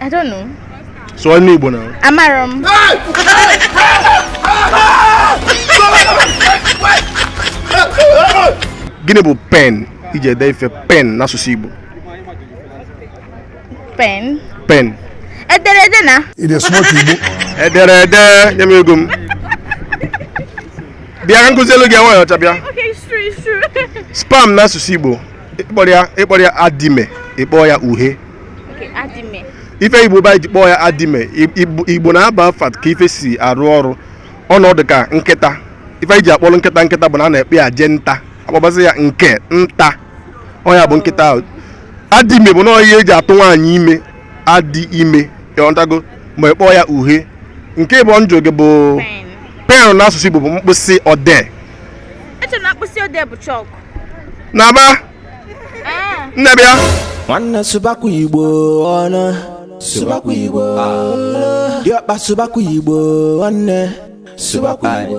I don't know. Sụọ n'Igbo now. Amarọ m. Gịnị bụ pen e ji ede ife pen n'asụsụ Igbo? Pen. Pen. Ederede na. Ide smart Igbo. Ederede nye m ego m. Bịa ka m kuzielu gị nwaanyị ọcha bịa. Sperm n'asụsụ Igbo ị kpọrọ ya adime ị kpọọ ya uhe ife igbo ba ji kpọọ ya adime igbo na-aba afa ka ife si arụ ọrụ ọ nọ dịka nkịta ife e ji akpọrọ nkịta nkịta bụ na a na-akpọ ya eje nta a kpọbazie ya nke nta ọ ya bụ nkịta ahụ adime bụ na ihe e ji atụ nwaanyị ime adị ime ị ghọtago ma ị kpọọ ya uhe nke mbụ m jụ gị bụ pen n'asụsụ igbo bụ mkpịsị odee Naba. Ah. Nne bịa. Nwanne sụbakwa Igbo ọnụ. Sụbakwa Igbo. Diọkpa sụbakwa Igbo nwanne. Sụbakwa Igbo.